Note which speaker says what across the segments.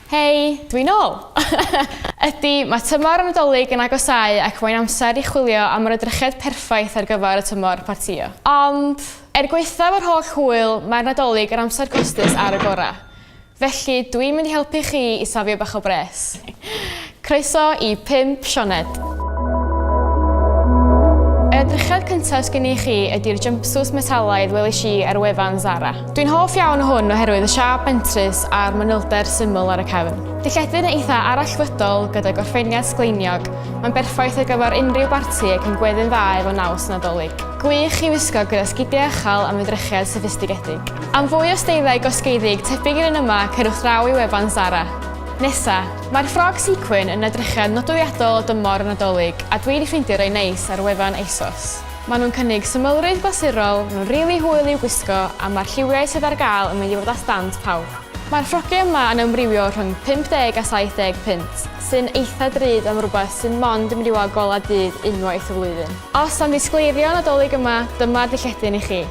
Speaker 1: Hei, dwi'n ôl! Ydy, mae tymor y Nadolig yn agosáu ac mae'n amser i chwilio am yr edrychiad perffaith ar gyfer y tymor partïo. Ond, er gwaethaf yr holl hwyl, mae'r Nadolig yn amser costus ar y gorau. Felly, dw i'n mynd i helpu chi i safio bach o bres. Croeso i Pump Sioned! Yr edrychiad cyntaf sgen i chi ydy'r jumpsuits metalaidd welish i ar wefan Zara. Dwi'n hoff iawn o hwn oherwydd y siâp bentrus a'r manylder syml ar y cefn. Dillledyn eitha' arallfydol gyda gorffeniad sgleiniog, mae'n berffaith ar gyfer unrhyw barti ac yn gweddu'n dda efo naws Nadolig. Gwych i wisgo gyda sgidiau ychal am edrychiad soffistigedig. Am fwy o steiliau gosgeiddig tebyg i'r un yma cerwch draw i wefan Zara. Nesa. Mae'r ffrog sequin yn edrychiad nodweddiadol o dymor y Nadolig a dwi di ffeindio rei neis ar wefan Asos. Maen nhw'n cynnig symlrwydd glasurol, nhw'n rili hwyl i'w gwisgo a mae'r lliwiau sydd ar gael yn mynd i fod at dant pawb. Mae'r ffrogiau yma yn amrywio rhwng 50 a 70 punt, sy'n eitha drud am rywbeth sydd mond yn mynd i weld golau dydd unwaith y flwyddyn. Os am ddisgleirio Nadolig yma, dyma'r dillledyn i chi.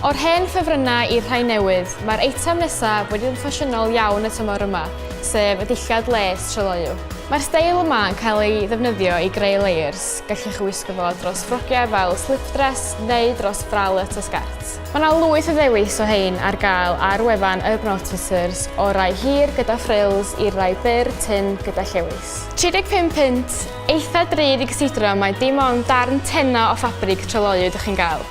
Speaker 1: O'r hen ffefrynnau i'r rhai newydd, mae'r eitem nesaf wedi bod yn ffasiynol iawn y tymor yma, sef y dillad les tryloyw. Mae'r steil yma yn cael ei ddefnyddio i greu layers, gallwch ei wisgo fo dros ffrogiau fel slip dress neu dros bralette a sgert. Mae yna lwyth o ddewis o rhain ar gael ar wefan Urban Outfitters, o'r rai hir gyda frills i'r rai byr, tynn gyda llewys. 35 punt Eitha drud i gysidro mai dim ond darn tenau o ffabrig tryloyw ydych chi'n gael,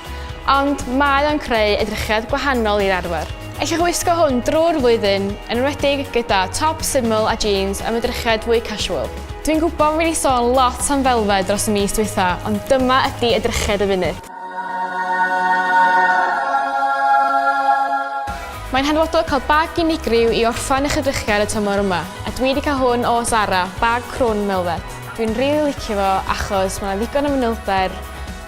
Speaker 1: ond mae o'n creu edrychiad gwahanol i'r arfer. Ellwch wisgo hwn drwy'r flwyddyn, yn enwedig gyda top syml a jîns am edrychiad fwy casual. Dwi'n gwybod fi 'di sôn lot am felfed dros y mis dwytha, ond dyma ydi edrychiad y funud. Mae'n hanfodol cael bag unigryw i orffen eich edrychiad y tymor yma, a dwi 'di cael hwn o Zara, bag crwn melfed. Dwi'n rili licio fo achos ma' 'na ddigon o fanylder,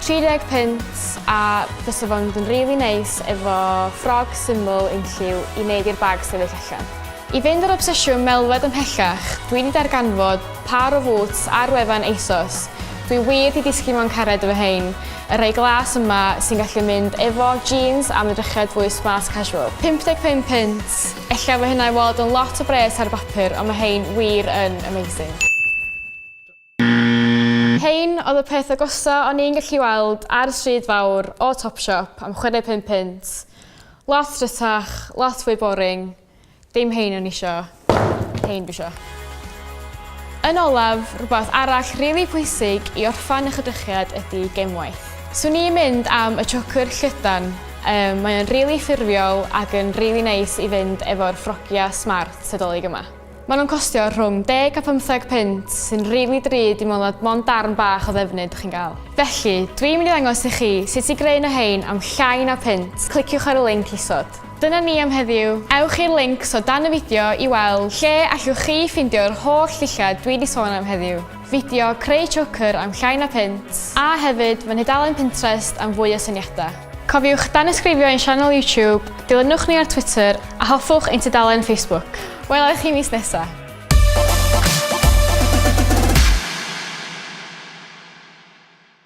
Speaker 1: 30 punt, a bysa fo'n mynd yn rili neis efo ffrog syml unlliw i neud i'r bag sefyll allan. I fynd â'r obsesiwn melfed ymhellach, dwi 'di darganfod Pâr o fŵts ar wefan ASOS. Dwi wir 'di disgyn mewn cariad efo hein. Y rhai glas yma sy'n gallu mynd efo jeans am edrychiad fwy smart casual. 55 punt! Ella fo hynna i weld yn lot o bres ar y bapur ond ma hein wir yn amazing. Hein oedd y peth agosa o'n i'n gallu weld ar y stryd fawr o Topshop am 65 punt. Lot rhytach, lot fwy boring. Dim hein o'n isio, hein dwi isio. Yn olaf, rhywbeth arall rili pwysig i orffan eich edrychiad ydy gemwaith. Swn i'n mynd am y chocr llydan, um, mae o'n rili ffurfiol ac yn rili neis i fynd efo'r ffrogia smart Nadolig yma. Maen nhw'n costio rhwng deg a phymtheg punt, sy'n rili drud i meddwl nad mond darn bach o ddefnydd dych chi'n gael. Felly, dwi'n mynd i ddangos i chi sut i greu un o rhein am llai na punt, cliciwch ar y linc isod. Dyna ni am heddiw, ewch i'r lincs o dan y fideo i weld lle allwch chi ffeindio'r holl ddillad dwi 'di sôn am heddiw. Fideo Creu Choker am llai na punt, a hefyd fy nhudalen Pinterest am fwy o syniadau. Cofiwch danysgrifio ein sianel YouTube, dilynwch ni ar Twitter a hoffwch ein tudalen Facebook. Wela i chi mis nesa!